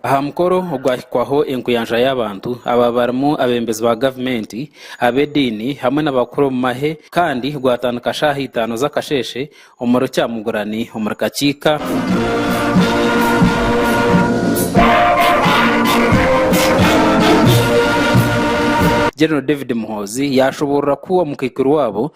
Aha mukoro ogwahikwaho enkuyanja y'abantu ababa barimu abeebembezi ba gavumenti, ab'ediini hamwe n'abakuru omu mahe kandi gwatandika shaaha itaano z'akasheeshe omuri Kyamugurani omuri Kakiika. General David Muhoozi yaashoboorora ku omukaikuru waabo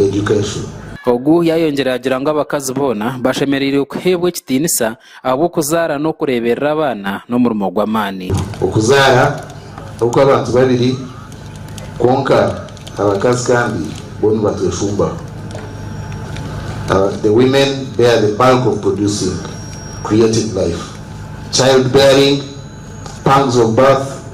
education. Ogu yayongyera yagira ngu abakazi boona bashemereire kuheebwa ekitiinisa ahabw'okuzaara n'okureeberera abaana n'omurimo gw'amaani. Okuzaara okw'abantu babiri kwonka abakazi kandi bo nibatweshumbaho. The women bear the bulk of producing creating life, child bearing, pangs of birth,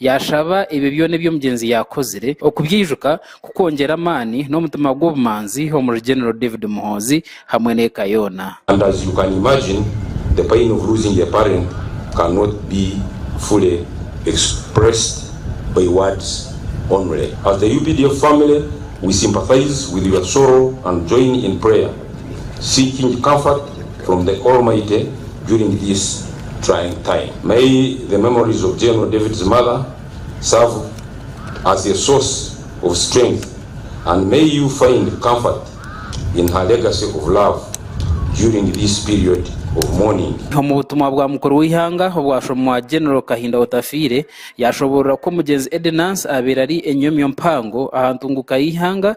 Yaashaba ebyo byona ebi omugyenzi yaakozire okubyaijuka kukwongyera amaani n'omutima gw'obumanzi omuri General David Muhoozi hamwe n'eka yoona. And as you can imagine the pain of losing a parent cannot be fully expressed by words only. As the updf family we sympathise with your sorrow and join in prayer. seeking comfort from the Almighty during this trying time. May the memories of General David's mother serve as a source of strength and may you find comfort in her legacy of love during this period of mourning. Omu butumwa bwa mukuru w'eihanga obwashomwa General Kahinda Otafiire, yaashoboorora ku Omugyenzi Eddy Nansi abaire ari enyomyo mpango aha ntunguka y'eihanga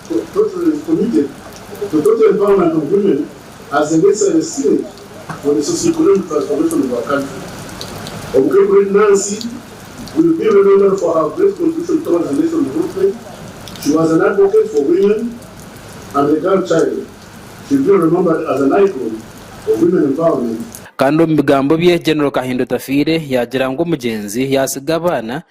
Kandi omu bigambo bye, General Kahinda Otafiire yaagira ngu omugyenzi yaatsiga abaana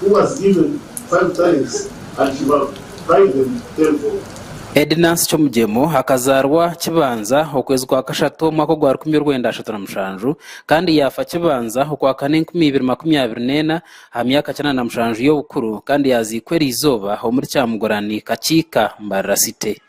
Who was given five talents and he multiplied them tenfold. Edi Nancy Chomugyemo akazaarwa Kibanza okwezi kwa kashatu omwaka ogwa rukumi orwenda ashatu na mushanju kandi yaafa Kibanza okwakana enkumi ibiri makumi abiri n'ena aha myaka kinaana na mushanju y'obukuru kandi yaaziikwa eri izooba omuri Kyamugurani, Kakiika, Mbarara City.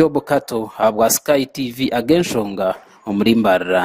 Job Kato ahabwa Sky TV ag'enshonga omuri Mbarara.